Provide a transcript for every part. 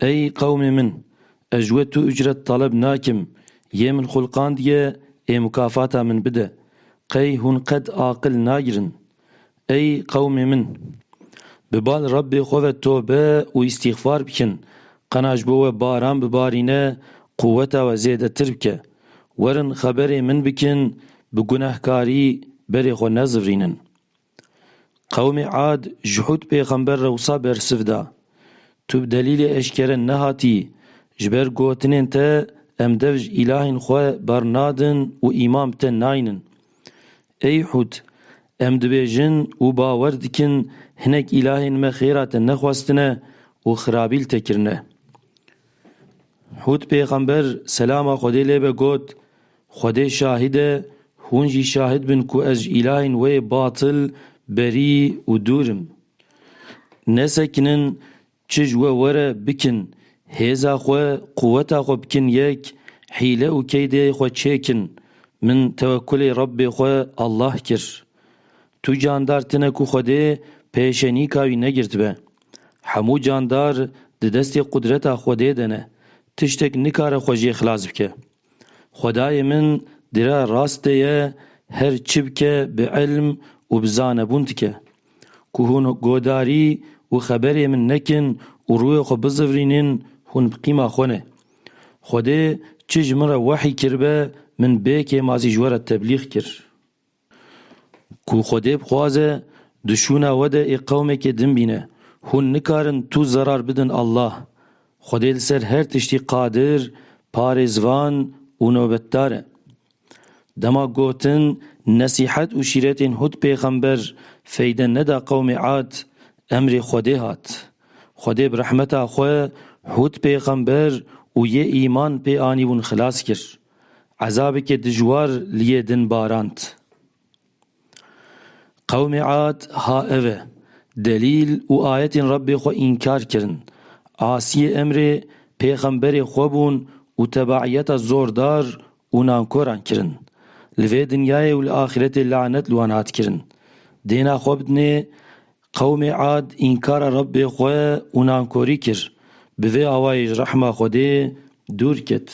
Ey qewmê min! Ez ji we tu ucret taleb nakim, yê min xulqandiye ê mukafata min bide. Qey hûn qet aqil nagirin? Ey qewmê min! Bi bal Rebbê xwe ve tobe û îstîxfar bikin, qena ji bo we baran bibarîne, quweta we zêdetir bike. Werin xeberê min bikin, bi gunehkarî berê xwe nezivrînin. Qewmê Ad ji Hûd pêxember re wisa bersiv da, Tu bi delîlê eşkere nehatî, ji ber gotinên te em dev ji îlahên xwe bernadin û îman bi te naynin. Ey Hûd! Em dibêjin û bawer dikin hinek îlahên me xêra te nexwestine û xirabî li te kirine. Hûd pêxember, selama Xwedê lê be, got, Xwedê şahid e, hûn jî şahid bin ku ez ji îlahên wê yê batil berî û dûr im. Nesekinin, çi ji we were bikin, hêza xwe, quweta xwe bikin yek, hîle û keydeyê xwe çêkin. Min tewekkulê Rebbê xwe Allah kir. Tu candar tine ku Xwedê pêşenîka wî negirtibe. Hemû candar di destê qudreta Xwedê de ne, tiştek nikare xwe jê xilas bike. Xwedayê min dire rastê ye her çi bike bi ilm û bi zanebûn dike. Ku hûn godarî û xeberê min nekin û rûyê xwe bizivrînin hûn bi qîma xwe ne. Xwedê çi ji min re wehî kiribe min bê kêmazî ji we re teblîx kir. Ku Xwedê bixwaze di şûna we de ê qewmekê din bîne. Hûn nikarin tu zerar bidin Allah. Xwedê li ser her tiştî qadir, parêzvan û nobetdar e. Dema gotin nesîhet û şîretên hut pêxember feyde neda qewmê Ad, emrê Xwedê hat. Xwedê bi rehmeta xwe hut pêxember û yê îman pê anîbûn xilas kir. Ezabeke dijwar li yê din barand. Qewmê Ad ha ev e, delîl û ayetên Rebbê xwe înkar kirin, asiyê emrê pêxemberê xwe bûn û tebaiyeta zordar û nankoran kirin. Li vê dinyayê û li axîretê lanet li wan hat kirin. Dêna xwe bidinê, Qewmê Ad înkara Rebbê xwe û nankorî kir, bi vê awayê ji rehma Xwedê dûr ket.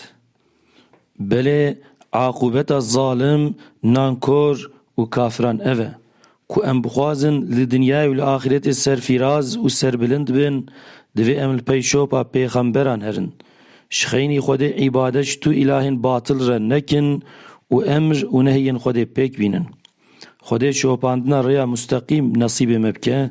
Belê aqûbeta zalim, nankor û kafiran ev e, ku em bixwazin li dinyayê û li axîretê serfîraz û serbilind bin, divê em li peyşopa pêxemberan herin, ji xeynî Xwedê îbadet ji tu îlahên batil re nekin û emr û nehiyên Xwedê pêk bînin. Xwedê şopandina rêya musteqîm nesîbê me bike,